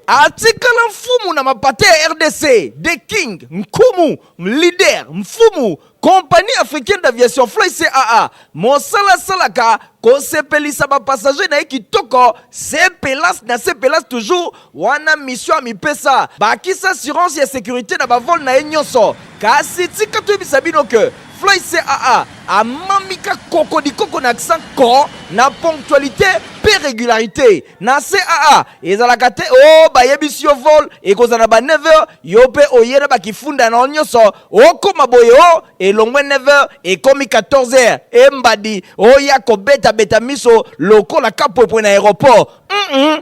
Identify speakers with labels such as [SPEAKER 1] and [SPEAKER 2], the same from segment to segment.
[SPEAKER 1] atikala mfumu na mapata ya rdc the king nkumu leader mfumu compagnie africaine d'aviation fly caa mosala asalaka kosepelisa bapassager na ye kitoko sepelas na sepelas toujours wana mission amipesa bakisa assurance ya securite na bavole na ye nyonso kasi tika toyebisa bino ke fly caa amamika koko likoko na accent ko na ponctualité mpe régularité na caa ezalaka te o oh, bayebisi yo vol ekozala na ba 9 heures yo mpe oye na bakifunda na yo nyonso okoma boye o oh, elongwe 9 heures ekomi 14 heures embadi oya kobetabeta miso lokola kapwepwe na aéroport mm -mm.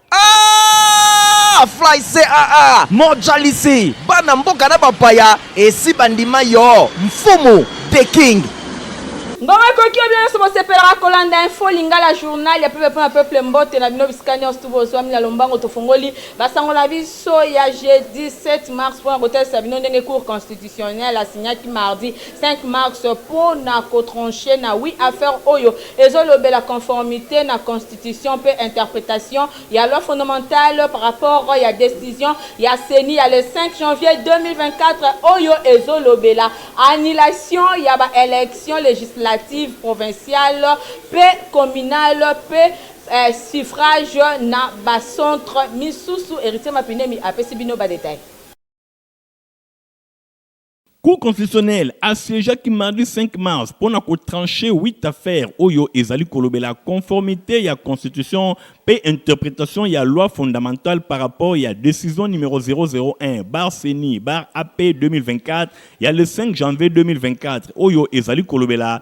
[SPEAKER 1] Ah, fly caa mojalisi bana mboka na bapaya esi bandima yo mfumu the king Mbongo
[SPEAKER 2] ekoki yo bino nionso bosepelaka kolanda info lingala journal ya peuple pona peuple mbote na bino bisika nionso tu bozuami na lombango tofongoli ba sango na biso ya jeudi 7 mars pona kotalisa bino ndenge cour constitutionnelle asignaki mardi 5 mars pona ko trancher na oui affaire oyo ezo lobela conformite na constitution Constitution mpe interpretation ya loi fondamentale par rapport ya decision ya ceni ya le 5 janvier 2024 oyo ezolobela annulation ya ba elections legislatives provinciales mpe communales mpe suffrages na ba centres misusu. Heritier Mapinemi apesi bino ba details.
[SPEAKER 3] Cour constitutionnelle a siegeaki mardi 5 mars mpo na ko trancher 8 affaires oyo ezali kolobela conformite ya constitution mpe interpretation ya loi fondamentale par rapport ya decision numero 001 bar ceni bar AP 2024 ya le 5 janvier 2024 oyo ezali kolobela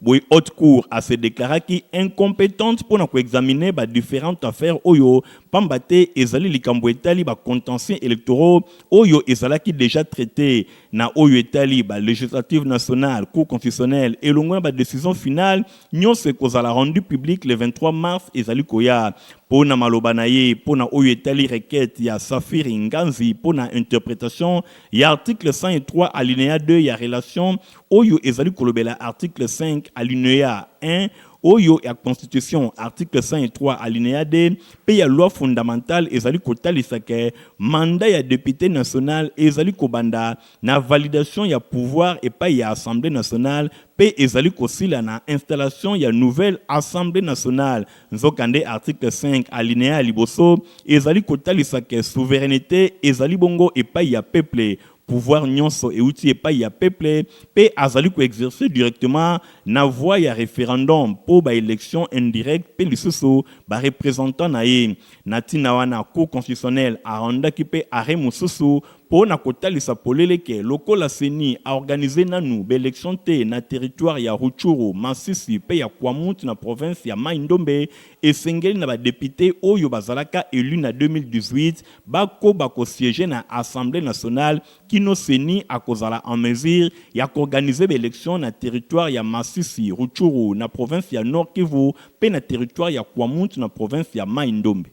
[SPEAKER 3] Boye Haute Cour a se declaraki incompetente mpo na ko examiner ba differentes affaires oyo pamba te ezali likambo etali ba contentieux electoraux oyo ezalaki dejà traiter na oyo etali ba legislatives nationales, Cour constitutionnelle elongo na ba decisions finales nionso ekozala rendues publiques le 23 mars ezali koya. Mpo na maloba na ye mpo na oyo etali requete ya Saphir Nganzi mpo na interpretation ya article 103 alineya 2 ya relation oyo ezali kolobela article 5 alineya 1 oyo ya Constitution, article 103 alineya 2 mpe ya loi fondamentale ezali kotalisa ke mandat ya depute national ezali kobanda na validation ya pouvoir epayi ya Assemblee nationale mpe ezali kosila na installation ya nouvelle Assemblee nationale. Nzokande, article 5 alineya ya liboso ezali kotalisa ke souverainete ezali bongo epayi ya peple. Pouvoir nionso ewuti epayi ya peuple mpe azali ko exercer directement na voie ya referendum mpo ba elections indirectes mpe lisusu ba representants na ye. Na tina wana, Cour constitutionnelle a rendaki mpe arret mosusu mpo na kotalisa polele que lokola ceni a organiser nanu ba elections te na territoire ya Rutshuru, Masisi mpe ya Kwamouth na province ya Maï-Ndombe, esengeli na ba deputes oyo bazalaka elus na 2018 bakoba ko sieger na Assemblee nationale kino ceni akozala en mesure ya k'organiser ba elections na territoire ya Masisi, Rutshuru na province ya Nord-Kivu mpe na territoire ya Kwamouth na province ya Maï-Ndombe.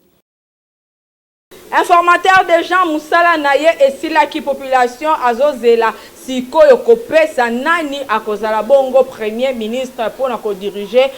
[SPEAKER 2] Informateur de genre musala na ye esilaki population azo zela sikoyo kopesa nani akozala bongo premier ministre pona ko diriger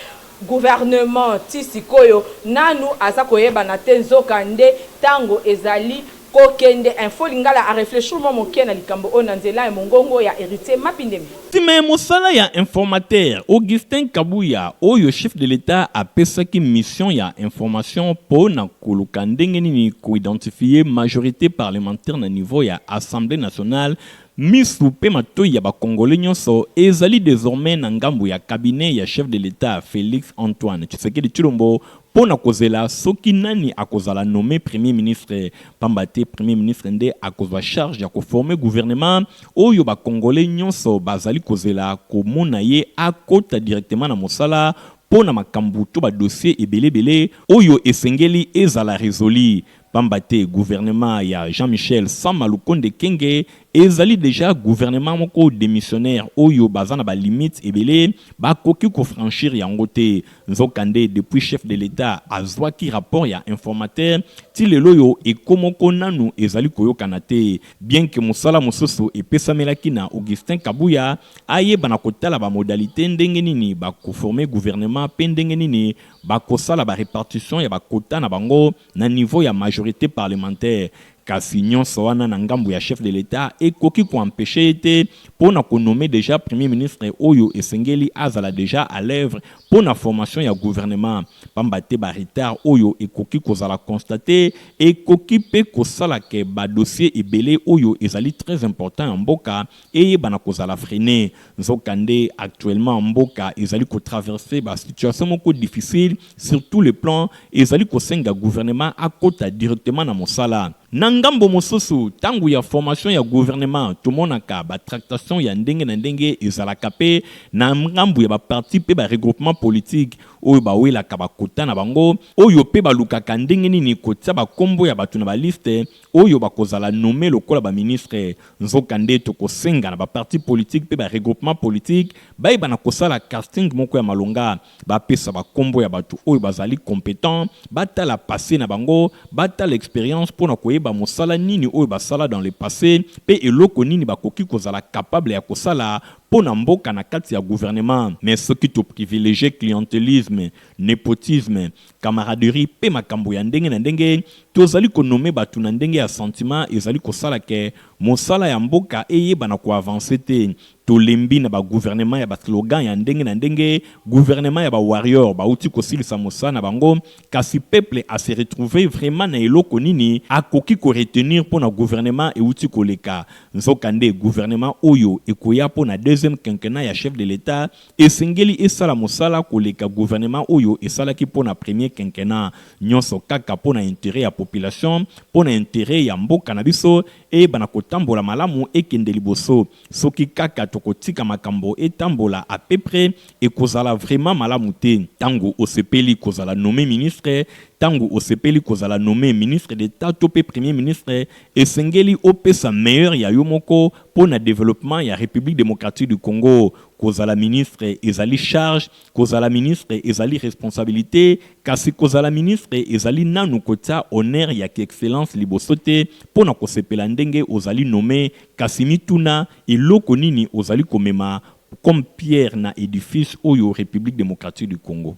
[SPEAKER 2] Gouvernement ti sikoyo nanu aza koyebana te nzoka nde tango ezali ko kende info lingala a reflechir mwa moke na likambo oyo na nzela ya mongongo ya Heritier Mapindemi. Sima ya mosala
[SPEAKER 3] ya informateur Augustin Kabuya oyo chef de l'Etat apesaki mission ya information po na koluka ndenge nini ko identifier majorite parlementaire na niveau ya Assemblee nationale Misu mpe matoyi ya ba Congolais nionso ezali desormais na ngambo ya cabinet ya chef de l'Etat Felix Antoine Tshisekedi Tshilombo mpo na kozela soki nani akozala nomme Premier ministre, pamba te Premier ministre nde akozwa charge ya ko former gouvernement oyo ba Congolais nionso bazali kozela komona ye akota directement na mosala mpo na makambo to ba dossiers ebele ebele oyo esengeli ezala resolu Pamba te gouvernement ya Jean Michel Sama Lukonde Ekenge ezali dejà gouvernement moko demissionnaire oyo baza na ba limites ebele bakoki ko franchir yango te. Nzoka nde depuis chef de l'Etat azuaki rapport ya informateur ti lelo oyo echo moko nanu ezali koyokana te bien que mosala mosusu epesamelaki na Augustin Kabuya ayebana kotala ba modalites ndenge nini bako former gouvernement pe ndenge nini bakosala ba repartition ya ba quotas na bango Na niveau ya majorite parlementaire kasi nionso wana na ngambo ya chef de l'Etat ekoki ko empecher ye te mpo na ko nommer dejà Premier ministre oyo esengeli azala dejà à l'oeuvre mpo na formation ya gouvernement pamba te ba retards oyo ekoki kozala constater ekoki mpe kosala que ba dossiers ebele oyo ezali très importants ya mboka eyebana kozala freine nzoka nde actuellement mboka ezali ko traverser ba situation moko difficile sur tout le plan ezali kosenga gouvernement akota directement na mosala na ngambo mosusu tango ya formation ya gouvernement tomonaka ba tractation ya ndenge na ndenge ezalaka mpe na ngambo ya ba parti mpe ba regroupement politique oyo bawelaka ba kota na bango oyo mpe balukaka ndenge nini kotia ba kombo ya bato na ba liste oyo bakozala nommer lokola ba ministres, nzokande tokosenga na ba partis politiques mpe ba regroupements politiques bayeba na kosala casting moko ya malonga, bapesa ba kombo ya batu oyo bazali competents, batala passe na bango, batala experience mpo na koyeba mosala nini oyo basala dans le passe mpe eloko nini bakoki kozala capable ya kosala mpo na mboka na kati ya gouvernement. Mais soki to privilegier clientelisme, nepotisme, camaraderie mpe makambo ya ndenge na ndenge, tozali ko nommer batu na ndenge ya sentiment ezali kosala que mosala ya mboka eyeba na ko avancer te. Tolembi na ba gouvernements ya ba slogans ya ndenge na ndenge, gouvernements ya ba warriors bawuti kosilisa mosala na bango, kasi peuple a se retrouver vraiment na eloko nini akoki ko retenir mpo na gouvernement ewuti koleka. Nzokande gouvernement oyo ekoya mpo na deuxième quinquennat ya chef de l'Etat, Esengeli esala mosala koleka gouvernement oyo esalaki mpo na premier quinquennat, nionso kaka mpo na interet ya population, mpo na interet ya mboka na biso eyebana kotambola malamu, ekende liboso. Soki kaka tokotika makambo etambola à peu près, ekozala vraiment malamu te. Tango osepeli kozala nomme ministre, tango osepeli kozala nomme ministre d'Etat to mpe premier ministre, esengeli opesa meilleur ya yo moko mpo na developpement ya Republique democratique du Congo. Kozala ministre ezali charge, kozala ministre ezali responsabilite, kasi kozala ministre ezali nanu kotia honneur ya ki excellence liboso te mpo na kosepela ndenge ozali nomme, kasi mituna, eloko nini ozali komema comme pierre na edifice oyo Republique democratique du Congo?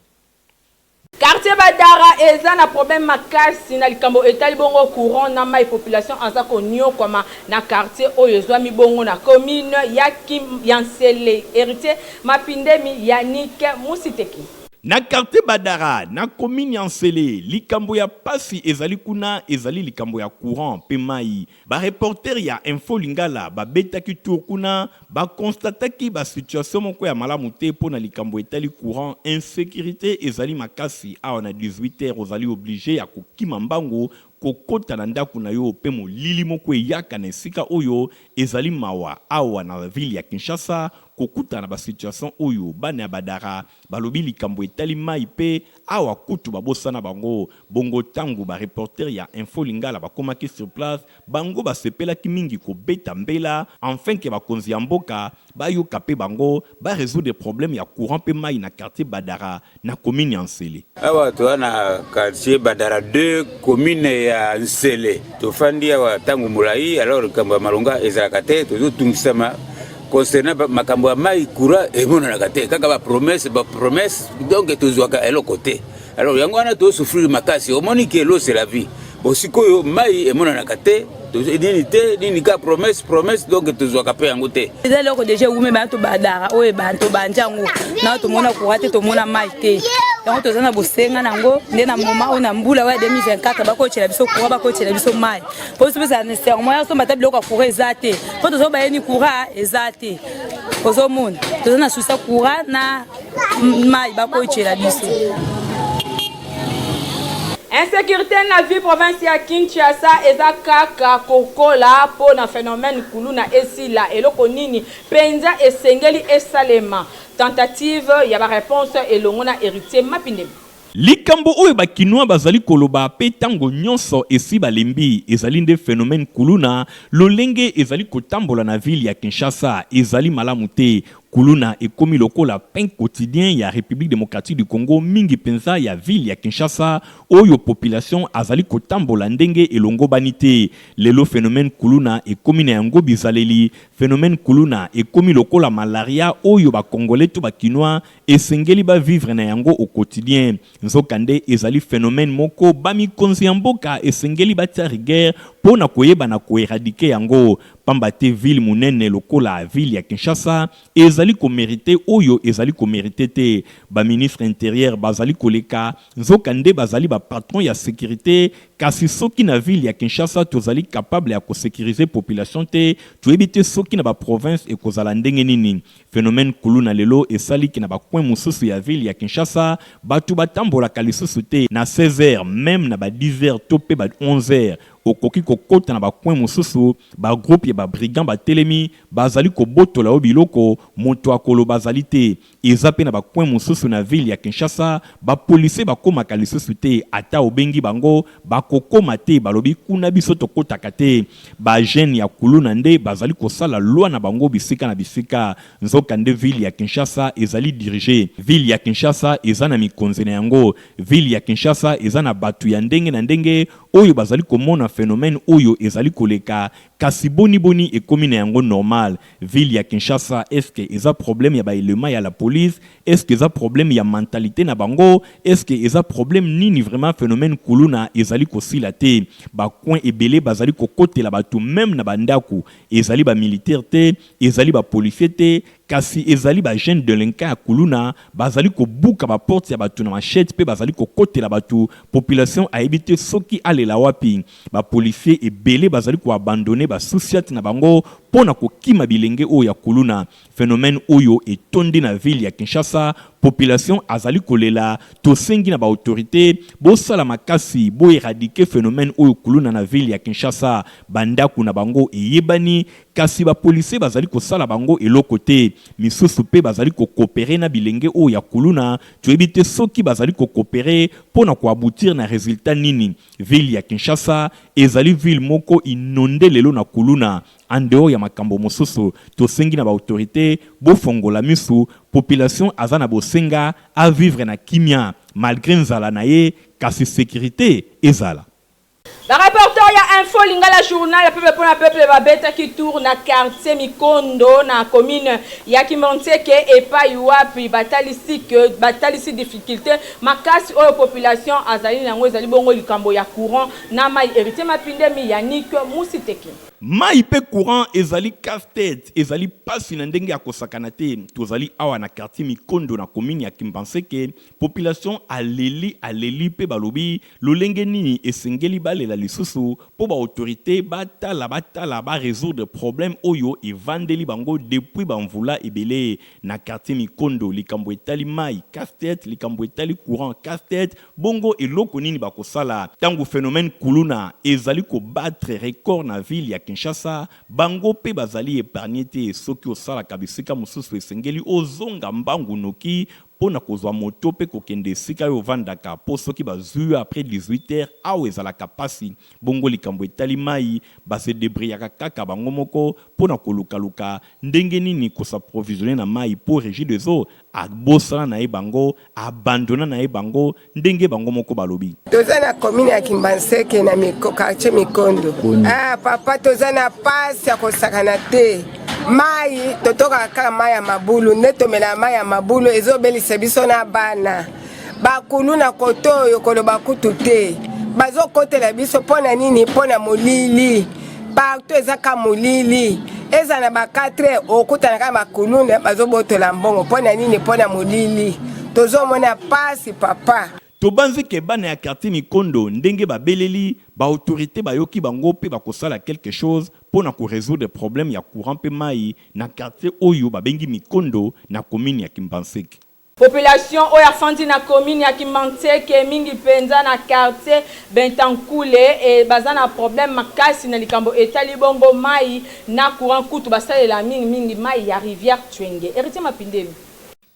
[SPEAKER 2] Quartier Badara eza na problème makasi na likambo etali bongo courant na mayi, population aza koniokwama na quartier oyo ezwami bongo na commune ya Kim ya Nsele. Heritier Mapindemi, Yannick Musiteki. Na quartier
[SPEAKER 3] Badara na commune ya Nsele, likambo ya pasi ezali kuna ezali likambo ya courant mpe mayi. Ba reporters ya Info Lingala babetaki tour kuna, ba constataki ba situations moko ya malamu te mpo na likambo etali courant, insecurite ezali makasi awa na 18 heures ozali oblige ya kokima mbangu kokota na ndaku na yo mpe molili moko eyaka na esika oyo, ezali mawa awa na ville ya Kinshasa kokutana na ba situations oyo. Bana ya Badara balobi likambo etali mayi mpe. Awa kutu babosana bango. Bongo tangu ba reporters ya Info Lingala bakomaki sur place, bango basepelaki mingi kobeta mbela enfin que bakonzi ya mboka bayoka mpe bango, ba resoudre problème ya courant mpe mayi na quartier Badara, na commune ya N'sele. Awa toza na
[SPEAKER 4] quartier Badara ii, commune ya N'sele. Tofandi awa tangu molayi, alors likambo ya malonga ezalaka te, tozotungisama. concernant makambo ya mai courant emonanaka te kaka ba promesse ba promesse donc tozwaka eloko te alors yango wana tosouffrir makasi omoni ke l'eau c'est la vie bon sikoyo mai emonanaka te nini te nini ka promesse promesse donc tozwaka mpe yango te eza eloko deja ewume
[SPEAKER 5] bana tobadaka oyo tobandi yango nao tomona kura te tomona mai te yango toza na bosenga na yango nde na moma oyo na mbula oyo ya 2024 bakotyela biso kura bakotyela biso mai mpo sopesa na serment ya somba ata biloko ya coura eza te mpo tozo bayeni coura eza te ozomona toza na susa coura na mai bakoyicela biso
[SPEAKER 2] insécurité na vie province ya kinshasa eza kaka kokola mpo na phénomène kuluna esila eloko nini mpenza esengeli esalema tentative ya bareponse elongo na héritier mapindemi Likambo
[SPEAKER 3] oyo ba kinois bazali koloba pe tango nionso esi balembi ezali nde phenomène kuluna, lolenge ezali kotambola na ville ya Kinshasa ezali malamu te, kuluna ekomi lokola pain quotidien ya Republique Democratique du Congo mingi penza ya ville ya Kinshasa oyo population azali kotambola ndenge elongobani te, lelo phenomène kuluna ekomi na yango bizaleli, phenomène kuluna ekomi lokola malaria oyo ba congolais to ba kinois Esengeli ba vivre na yango au quotidien. Nzoka nde ezali phenomène moko ba mikonzi ya mboka esengeli batia rigueur po na koyeba na ko eradiquer yango. Pamba te ville munene lokola ville ya Kinshasa ezali ko meriter oyo ezali ko meriter te. Ba ministres interieur bazali koleka nzoka nde bazali ba patrons ya securite kasi soki na ville ya Kinshasa tozali capable ya ko securiser population te toyebi te soki na ba provinces ekozala ndenge nini. Phenomène kuluna lelo esali que na ba coins mosusu ya ville ya Kinshasa batu batambolaka lisusu te na 16 heures, meme na ba 10 heures to pe ba 11 heures okoki kokota na ba coins mosusu ba groupes ya ba brigands batelemi bazali kobotola yo biloko mutu akoloba azali te. Eza pe na ba coins mosusu na ville ya Kinshasa ba policiers bakomaka lisusu te ata obengi bango Bakokoma te, balobi kuna biso tokotaka te. Ba jeunes ya kuluna nde bazali kosala loi na bango bisika na bisika. Nzoka nde ville ya Kinshasa ezali diriger. Ville ya Kinshasa eza na mikonzi na yango. Ville ya Kinshasa eza na batu ya ndenge na ndenge oyo bazali komona phenomène oyo ezali koleka. Kasi boni boni ekomi na yango normal? Ville ya Kinshasa est-ce que eza problème ya ba elements ya la police Est ce que eza problème ya mentalite na bango? Est ce que eza problème nini vraiment phenomène kuluna ezali kosila te ba coin ebele bazali kokotela batu meme na ba ndaku ezali ba militaire te ezali ba policier te kasi ezali ba jeune delinquant ya kuluna bazali kobuka ba porte ya batu na machette pe bazali kokotela batu population ayebi te soki alela wapi ba policier ebele bazali ko abandonne ba souciat na bango pona kokima bilenge oyo ya kuluna Phenomène oyo etondi na ville ya Kinshasa, population azali kolela, tosengi na ba autorites bosala makasi bo eradiquer phenomène oyo kuluna na ville ya Kinshasa, ba ndaku na bango eyebani kasi ba policiers bazali kosala bango eloko te, misusu pe bazali ko cooperer na bilenge oyo ya kuluna, toyebi te soki bazali ko cooperer po na ko aboutir na resultat nini? Ville ya Kinshasa ezali ville moko innonde lelo na kuluna, En dehors ya makambo mosusu, tosengi na ba autorites bofongola misu, population aza na bosenga a vivre na kimia malgre nzala na ye kasi securite ezala. Ba
[SPEAKER 2] reporters ya info lingala journal ya peuple pona peuple babetaki tour na quartier mikondo na commune ya kimonseke epayi wapi batalisi que batalisi difficulte makasi oyo population azali na yango ezali bongo likambo ya courant na mayi heritier mapindemi yannick musiteki. Mayi mpe
[SPEAKER 3] courant ezali casse tete, ezali pasi na ndenge ya kosakana te. Tozali awa na quartier Mikondo na commune ya Kimbanseke, population aleli aleli mpe balobi lolenge nini esengeli balela lisusu mpo ba autorites batala batala ba resoudre problème oyo evandeli bango depuis ba mvula ebele na quartier Mikondo, likambo etali mayi casse tete, likambo etali courant casse tete. Bongo eloko nini bakosala tango phenomène kuluna ezali ko battre record na ville ya Kinshasa? Bango pe bazali epargner te, soki osalaka bisika mosusu esengeli ozonga mbangu noki po na kozwa moto pe kokende esika yo ovandaka po soki bazwi yo après 18 heures awa ezalaka pasi. Bongo likambo etali mayi, ba se debriyaka kaka bango moko po na koluka luka ndenge nini ko s'approvisionner na mayi po Regideso Abosana na ye bango, abandonna na ye bango, ndenge bango moko balobi. Toza na commune ya
[SPEAKER 6] Kimbanseke na miko, quartier Mikondo. Ah papa toza na pasi ya kosakana te. Mayi totokaka kaka mayi ya mabulu nde tomela mayi ya mabulu ezobelisa biso na bana. bakulu na kote oyo koloba kutu te bazokotela biso mpo na nini mpo na molili partout eza ka molili eza na ba 4 okutana kaka bakuluna bazobotola mbongo mpo na nini mpo na molili tozomona pasi papa tobanzi ke
[SPEAKER 3] bana ya quartier nikondo ndenge babeleli ba autorité bayoki bango mpe bakosala quelque chose mpo na koresoudre problème ya courant mpe mai na quartier oyo babengi mikondo na commune ya kimbanseke Population
[SPEAKER 2] oyo afandi na commune ya Kimanseke mingi penza na quartier Bentankule e baza na problème makasi na likambo etali bongo mayi na courant kutu basalela mingi mingi mayi ya rivière Tshwenge. Heritier Mapindemi.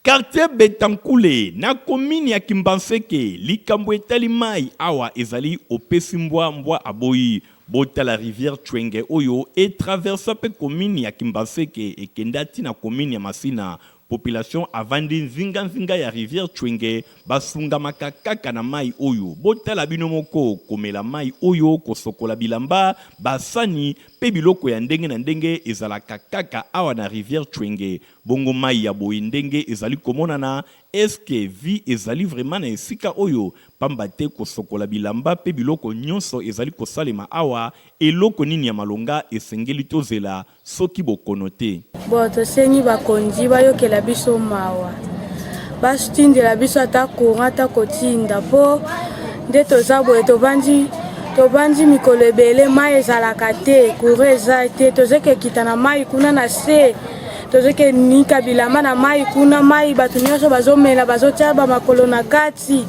[SPEAKER 2] Quartier
[SPEAKER 3] Bentankule na commune ya Kimbanseke likambo etali mayi awa ezali opesi mbwa mbwa aboyi botala rivière Tshwenge oyo e traversa pe commune ya Kimbanseke ekenda ti na commune ya Masina Population avandi nzinga nzinga ya rivière Tshwenge basungamaka kaka na mayi oyo. Botala bino moko, komela mayi oyo, kosokola bilamba, ba sani pe biloko ya ndenge na ndenge ezalaka kaka awa na rivière Tshwenge. Bongo mayi ya boye ndenge ezali komonana, est ce que vie ezali vraiment na esika oyo? Pamba te kosokola bilamba pe biloko nionso ezali kosalema awa, eloko nini ya malonga esengeli tozela? Soki bokono te. Bon tosengi
[SPEAKER 7] bakonzi bayokela biso mawa batindela biso ata courant ata kotinda mpo nde toza boye tobandi tobandi mikolo ebele mai ezalaka te courant eza te tozoki ekita na mai kuna na se tozoki enika bilamba na mai kuna mai bato nyonso bazomela bazotya bamakolo na kati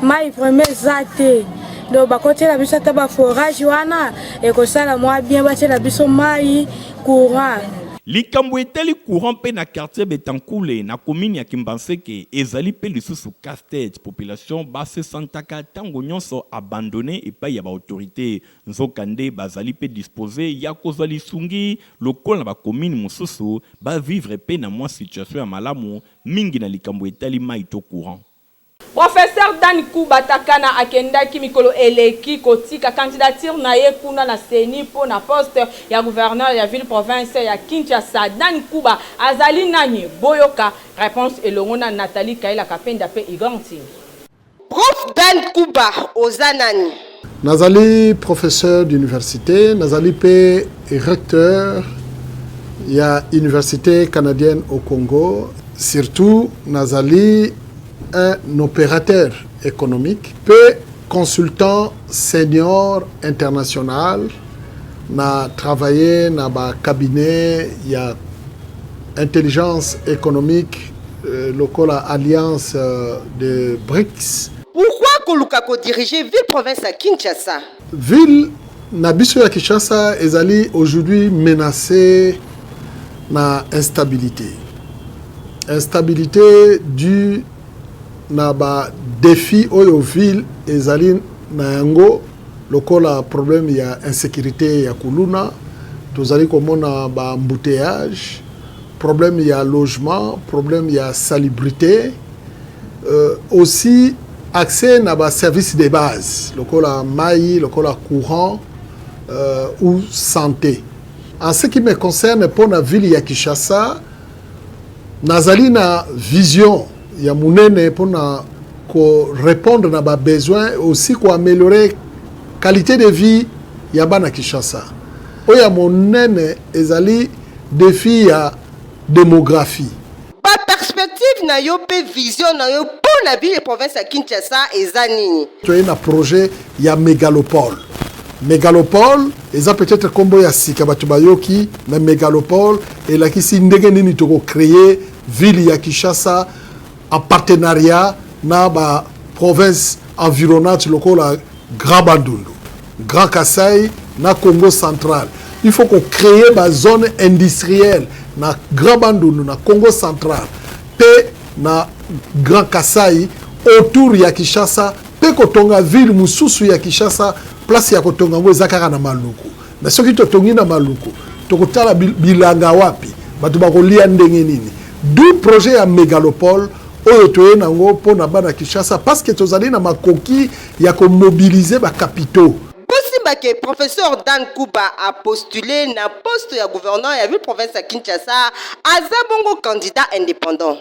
[SPEAKER 7] mai vraimen eza te donc bakotiela biso ata baforage wana ekosala mwa bien batiela biso mai courant likambo
[SPEAKER 3] etali courant mpe na quartier betankule na komini ya kimbanseke ezali mpe lisusu castete population basesantaka ntango nyonso abandone epai ya baautorité nzokande bazali mpe dispose ya kozwa lisungi lokola na bakomini mosusu bavivre mpe na mwa situation ya malamu mingi na likambo etali mai to courant Professeur
[SPEAKER 2] Dan Kuba Takana akendaki mikolo eleki kotika candidature na ye kuna na ceni mpo na poste ya gouverneur ya ville-province ya Kinshasa. Dan Kuba azali nani? Boyoka reponse elongo na Nathalie Kayila Kapenda mpe Igor Ntingi. Prof
[SPEAKER 8] Dan Kuba oza nani? Nazali
[SPEAKER 9] professeur d'universite, nazali mpe recteur ya Universite canadienne au Congo. Surtout, nazali un operateur economique mpe consultant senior international. Na travailler na ba cabinet ya intelligence économique euh, lokola alliance euh, de BRICS Pourquoi koluka
[SPEAKER 8] ko diriger ville province ya Kinshasa? Ville
[SPEAKER 9] na biso ya Kinshasa ezali aujourd'hui menacee na instabilite. Instabilite due na ba defis oyo ville ezali na yango lokola problème ya insecurite ya kuluna, tozali komona ba embouteillages, problème ya logement, problème ya salubrite. Euh, aussi accès na ba services de base lokola mayi lokola courant euh, ou santé en ce qui me concerne mpo na ville ya kinshasa nazali na vision ya monene mpo na korépondre na babesoin aussi koaméliorer qualité de vie ya bana kinshasa oyo ya monene ezali défi ya démographie Ba
[SPEAKER 8] perspectives na yo mpe vision na yo mpo na ville et province ya Kinshasa eza nini? Toye na projet
[SPEAKER 9] ya megalopole. Megalopole eza peut-être kombo ya sika bato bayoki, mais megalopole elakisi ndenge nini toko creer ville ya Kinshasa en partenariat na ba provinces environnantes lokola Grand Bandundu, Grand Kasai na Congo central. Il faut ko créer ba zone industrielle na Grand Bandundu na Congo central pe na Grand Kasai autour ya Kinshasa pe kotonga ville mosusu ya Kinshasa place ya kotonga yango eza kaka na Maluku. Mais soki totongi na Maluku tokotala bilanga wapi bato bakolia ndenge nini du projet ya megalopole oyo toye nango mpo na bana kinshasa parce que tozali na makoki ya ko mobiliser ba capitaux. Bosimba que
[SPEAKER 8] Professor Dan Kuba a postule na poste ya gouverneur ya ville-province ya Kinshasa, aza bongo candidat independant.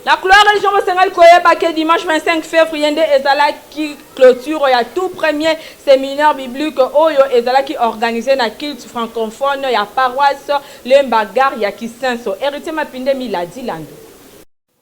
[SPEAKER 8] Na
[SPEAKER 2] Cloa Region bosengaki koyeba que dimanche 25 fevrier nde ezalaki cloture ya tout premier seminaire biblique oyo ezalaki organise na culte franconphone ya paroisse Lemba Gare ya Kisenso. Heritier Mapinde Miladi Lando.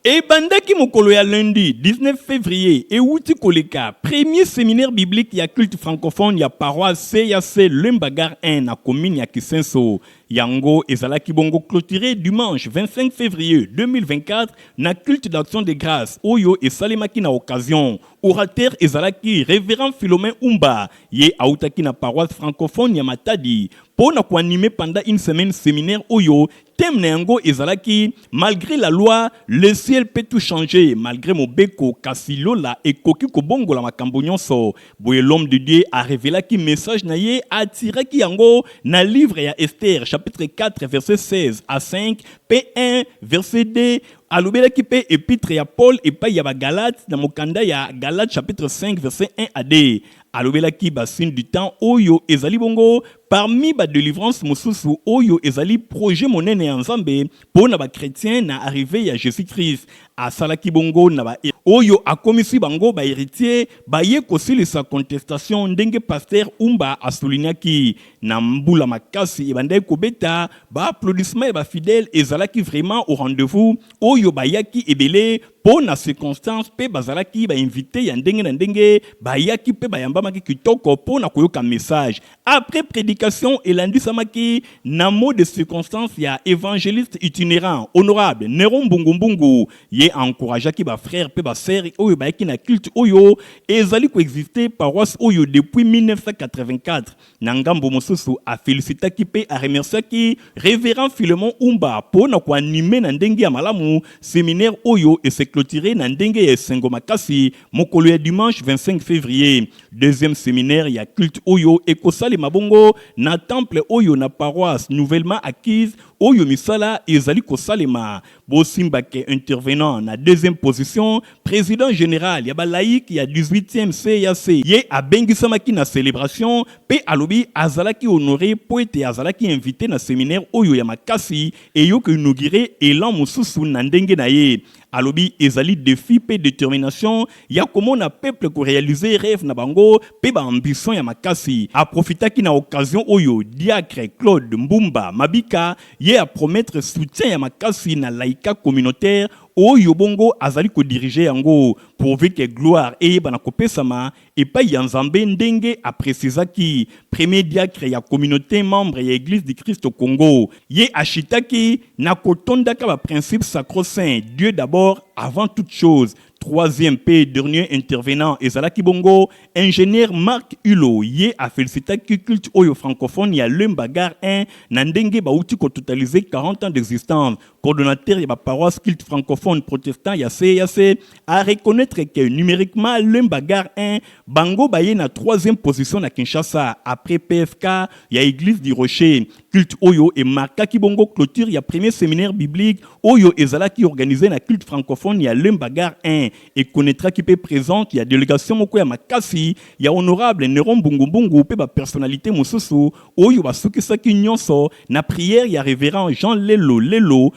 [SPEAKER 3] Ebandaki mokolo ya lundi 19 fevrier ewuti koleka, premier seminaire biblique ya culte francophone ya paroisse CAC Lemba Gare 1 na commune ya Kisenso. Yango ezalaki bongo cloturer dimanche 25 fevrier 2024 na culte d'action de grace oyo esalemaki na occasion. Orateur ezalaki Reverend Philomene Umba, ye awutaki na paroisse francophone ya Matadi mpo na ko animer pendant une semaine seminaire oyo Thème na yango ezalaki Malgre la loi, le ciel peut tout changer, malgre mobeko, kasi lola ekoki kobongola makambo nyonso. Boye l'homme de Dieu a revelaki message na ye, a tiraki yango na livre ya Esther chapitre 4 verset 16 à 5 mpe 1 verset 2. Alobelaki mpe epitre ya Paul epai ya ba Galates na mokanda ya Galates chapitre 5 verset 1 à 2. Alobelaki ba fin du temps oyo ezali bongo parmi ba delivrances mosusu oyo ezali projet monene ya Nzambe po na ba chretiens na arrivee ya Jesus Christ. Asalaki bongo na ba oyo akomisi bango ba heritiers baye kosilisa contestation ndenge Pasteur Umba a soulignaki. Na mbula makasi ebandaki kobeta, ba applaudissements ya ba fidèles ezalaki vraiment au rendez-vous oyo bayaki ebele Mpo na circonstance mpe bazalaki ba invites ya ndenge na ndenge, bayaki mpe bayambamaki kitoko mpo na koyoka message. Après predication elandisamaki na mot de circonstance ya evangeliste itinerant, Honorable Neron Mbungu Mbungu. Ye a encourageaki ba frères mpe ba sœurs oyo bayaki na culte oyo ezali ko exister paroisse oyo depuis 1984. Na ngambo mosusu, a felicitaki mpe a remerciaki Reverend Philemon Umba mpo na ko animer na ndenge ya malamu seminaire oyo e se cloturer na ndenge ya esengo makasi mokolo ya dimanche 25 fevrier. Deuxième seminaire ya culte oyo ekosalema bongo na temple oyo na paroisse nouvellement acquise oyo misala ezali kosalema Bosimba ke intervenant na deuxième position, president general ya ba laïcs ya 18ème CEAC, ye abengisamaki na celebration mpe alobi azalaki honore mpo ete azalaki invite na seminaire oyo ya makasi eyo ko inaugure elan mosusu na ndenge na ye. Alobi ezali defi mpe determination ya komona peuple ko realiser reve na bango mpe ba ambitions ya makasi. A profitaki na occasion oyo diacre Claude Mbumba Mabika ye a promettre soutien ya makasi na Laïka communautaire oyo bongo azali ko diriger yango pourvu que gloire eyebana kopesama epayi ya Nzambe ndenge a precisaki premier diacre ya communaute membre ya Eglise du Christ au Congo. Ye a chitaki na kotondaka ba principes sacro-saints, Dieu d'abord, avant toute chose, Troisième mpe dernier intervenant ezalaki bongo Ingenieur Marc Hulot, ye a felicitaki culte oyo francophone ya Lemba Gare 1 na ndenge bawuti ko totaliser 40 ans d'existence. Coordonnateur ya ba paroisses cultes francophones protestants ya CEAC a reconnaitre que numeriquement Lemba Gare 1 bango baye na troisième position na Kinshasa après PFK ya Eglise du Rocher Culte oyo e markaki bongo cloture ya premier seminaire biblique oyo ezalaki organise na culte francophone ya Lemba Gare 1. E connaitraki mpe presence ya delegation moko ya makasi ya Honorable Neron Mbungu Mbungu mpe ba personnalites mosusu oyo basukisaki nionso na prière ya Reverend Jean Lelo Lelo,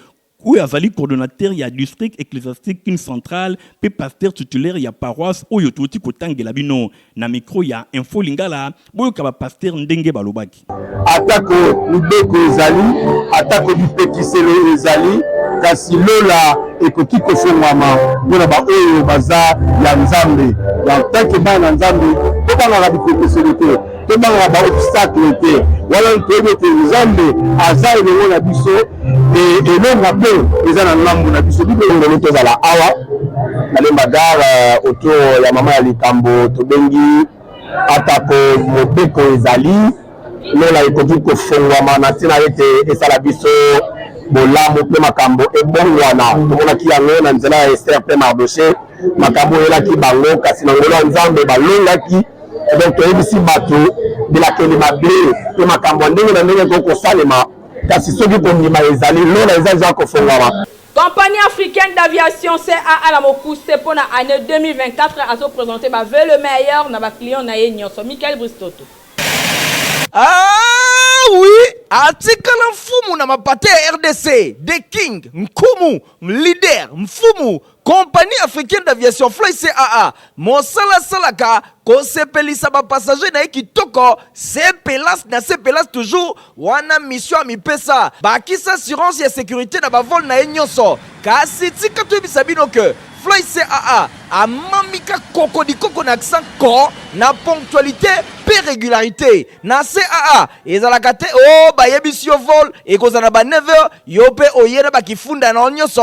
[SPEAKER 3] Oyo azali coordonnateur ya district ecclesiastique kin central mpe pasteur titulaire ya paroisse oyo touti kotangela bino. Na micro ya Info Lingala, boyoka ba pasteurs ndenge balobaki. Atako
[SPEAKER 10] mibeko ezali, atako bipekiselo ezali, kasi lola ekoki kofongwama mpo na baoyo baza ya Nzambe. En tant que bana na Nzambe, tobangaka bipekiselo te. tobangaka ba obstacle te wana toyebi ete nzambe aza elongo na biso elonga mpe eza na ngambo na biso bibelongoli tozala awa na lemba gare euh, autour ya mama ya likambo tobengi atako mobeko ezali lola ekoki kofongwama na ntina ete esala biso bolamu mpe makambo ebongwana tomonaki yango na nzela ya ester mpe mardoche makambo oyelaki bango kasi na ngolo ya nzambe balongaki donc toyebisi bato bilakeli mabe mpe makambo ya ndenge na ndenge ekoki kosalema kasi soki kondima ezali lola eza eza kofongama Compagnie africaine
[SPEAKER 2] d'aviation CAA la Mokuse pour l'année 2024 a présenté bah, veut le meilleur na ba client na ye nyonso Michael Bristoto. Ah
[SPEAKER 1] oui, atikala mfumu na mapate ya RDC, the king, nkumu, leader, mfumu, Compagnie africaine d'aviation Fly CAA mosala asalaka kosepelisa ba passagers na ye kitoko se pelas na se pelas toujours wana mission amipesa bakisa assurance ya securite na bavole na ye nyonso kasi tika toyebisa bino ke Fly CAA amamika koko likoko na accent ko na ponctualité mpe régularité na CAA ezalaka te o oh, bayebisi yo vol ekozala na ba 9h yo mpe oye na bakifunda na yo nyonso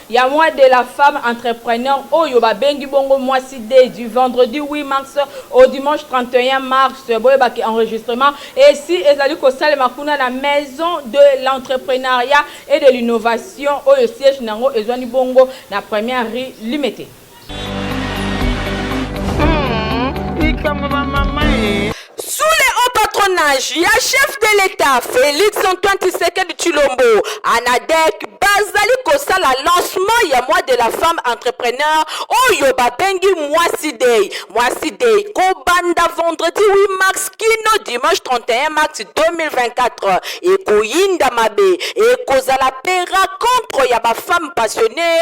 [SPEAKER 2] Ya moi de la femme entrepreneur oyo ba bengi bongo mwasi dei du vendredi 8 mars au dimanche 31 mars boyeba ke enregistrement esi ezali kosalema kuna na maison de l'entrepreneuriat et de l'innovation oyo siège na yango ezwani bongo na première rue Limete.
[SPEAKER 11] patronage ya chef de l'État Félix Antoine Tshisekedi Tshilombo Anadec bazali kosala lancement ya mois de la femme entrepreneur oyo babengi mwasi day mwasi day kobanda vendredi 8 mars kino dimanche 31 mars 2024 ekoyinda mabe ekozala pera contre ya bafemme passionné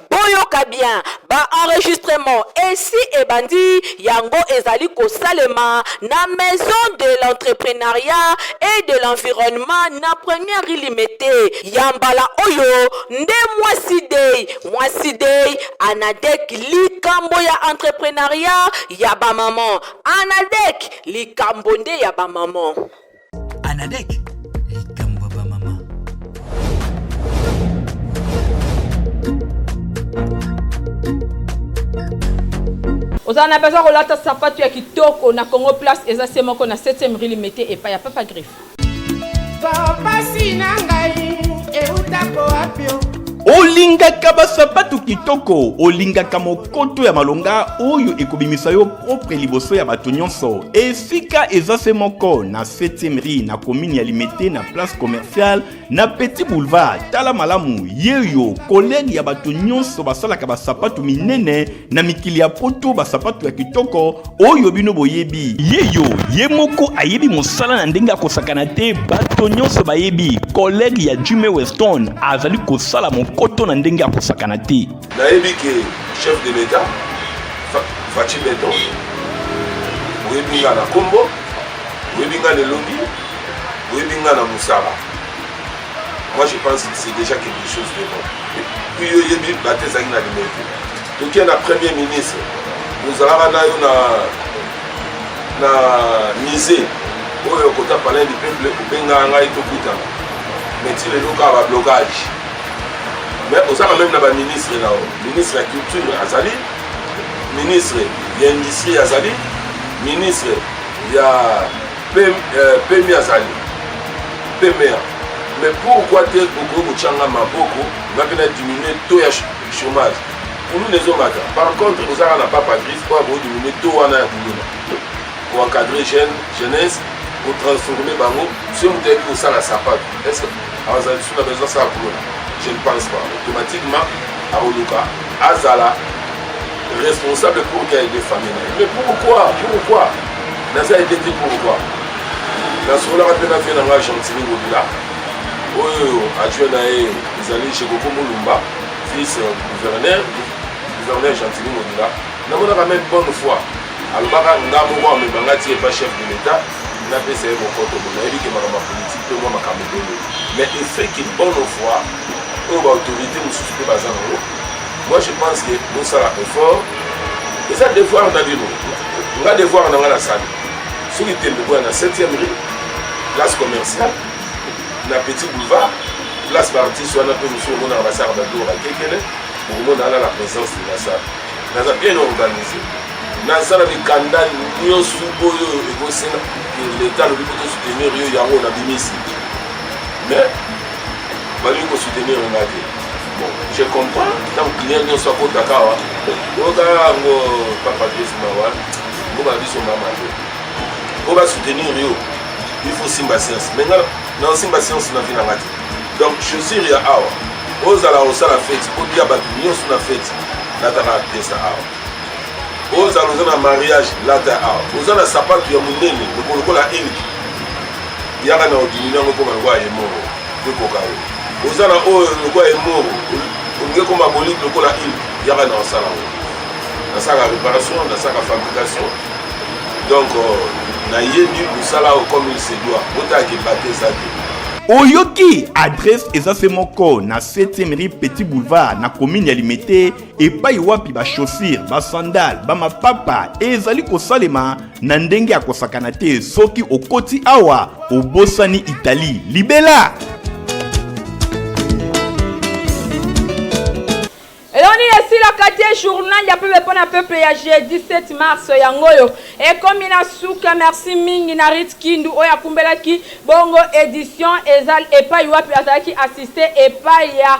[SPEAKER 11] Boyoka bien, ba enregistrements esi ebandi, yango ezali kosalema na Maison de l'entrepreneuriat et de l'environnement na Première rue Limete. Ya mbala oyo nde Mwasi Day, Mwasi Day, Anadec, likambo ya entrepreneuriat ya ba mamans. Anadec, likambo nde ya ba mamans.
[SPEAKER 12] Anadek
[SPEAKER 2] ozala na besoin kolata sapatu ya kitoko na congo place eza se moko na 7e rue limete epai ya papa griffe topasi
[SPEAKER 6] na ngai eutako wapio olingaka
[SPEAKER 3] basapatu kitoko olingaka mokoto ya malonga oyo ekobimisa yo propre liboso ya bato nyonso esika eza se moko na 7e rue na commune ya limete na place commerciale na petit boulevard tala malamu yeyo kolege ya bato nyonso basalaka basapato minene na mikili ya poto basapato ya kitoko oyo bino boyebi yeyo ye moko ayebi mosala na ndenge akosakana te bato nyonso bayebi kolege ya jime weston azali kosala mokoto na ndenge akosakana te Nayebi ke
[SPEAKER 13] chef de l'etat Fatshi Beton oyebi nga na kombo oyebi nga na elongi oyebi nga na mosala moi je pense que c'est déjà quelque chose de bon puis yo oyebi bate ezalaki na limete tokie na premier ministre ozalaka na yo na na musée oyo kota palin du peuple obengaka ngai tokutana mais ti lelo kaka bablocage mais oza na meme na baministre na yo ministre ya culture azali ministre ya industrie azali ministre ya pemi euh, azali pemea mais pourquoi te okoki kotyanga maboko ngape na diminue to ya chômage kuluna ezomata par contre ozaka na papa grise mpo akoki diminue to wana ya kuluna koencadre jeune jeunesse kotransforme bango soki moto ayebi kosala sapato Azala lisusu na besoin asala boulot na je ne pense pas automatiquement akoluka azala responsable pour qu'il aide famille na ye mais pourquoi pourquoi naza aide te pourquoi nasololaka mpe na vie na ngai gentini ngobila oyo adjoint na ye ezali jekoko molumba fils euh, gouverneur gouverneur gentini ngobila namonaka meme bonne fois alobaka nga moko amemanga ti epa chef de l'état na pesa ye mokoto bo nayebi ke makambo ya politike mpe mwa makambo ebele mais efeke bonne foi oyo baautorité mosusu mpe baza nango moi je pense ke bosala effort eza devoir na bino nga devoir na nga nasali soki tembe boya na 7e rue place commerciale na petit boulevard place baartiste wana mpe mosusu omonaka basaka babiloko bakekele bokomona ana na présence de la salle naza bien organisé naza na mikanda nyonso oyo ekosenga leta alobi ko tosoutenir yo yango na bimisi mais balingi kosoutenir nga te bon je comprends ntango client nyonso akotaka awa oyoka yango papa biso mawa mboka na biso mama te po basoutenir yo il faut simba science mais nga na osimba science na vi na nga te donc chaussure ya awa ozala kosala feti olia bato nyonso na feti nataka piesa awa ozala oza na mariage lata awa oza na sapatu ya monene lokolokola eliki yaka na odimini yango ekoma lokola emoro ekoka yo oza na oyo lokola emoro olingi ekoma boliki lokola eliki yaka na osala yango nasaka réparation nasaka fabrication donc euh, nayebi mosala oyo comme il se doit botala kebate eza te oyoki
[SPEAKER 3] adresse eza se moko na 7e rue petit boulevard na commune ya limete epai wapi bashosire basandale bamapapa ezali kosalema na ndenge ya kosakana te soki okoti awa obosani italie libela
[SPEAKER 2] eloni esilaka te journal ya pepe mpo na peuple ya jeudi 7 mars yango oyo ekomi na suka merci mingi na rit kindu oyo akumbelaki bongo edition eza epai wapi azalaki assiste epai ya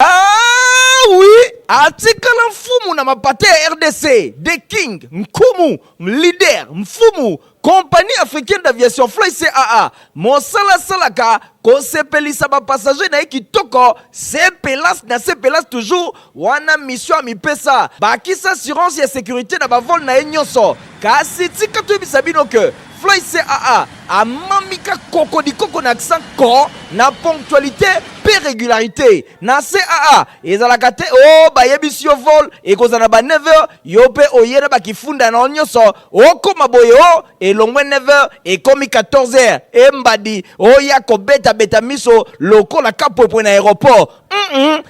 [SPEAKER 1] Ah oui, atikala mfumu na mapate ya RDC, the king, nkumu, leader, mfumu, compagnie africaine d'aviation Fly CAA. Mosala salaka kosepelisa ba passager na ye kitoko, sepelas na sepelas toujours, wana mission amipesa. Bakisa assurance ya securite na ba vol na ye nyonso. Kasi tika toyebisa bino que Floyd CAA amami ka koko likoko na accent ko na ponctualité pe regularité na CAA ezalaka te o oh, bayebisi yo vol ekozala na ba 9 heures yo pe oye na bakifunda na yo nyonso okoma boye o oh, elongwe 9 heures ekomi 14 heures embadi oya oh, kobetabeta miso lokola kapwepwe na aéroport mm -mm.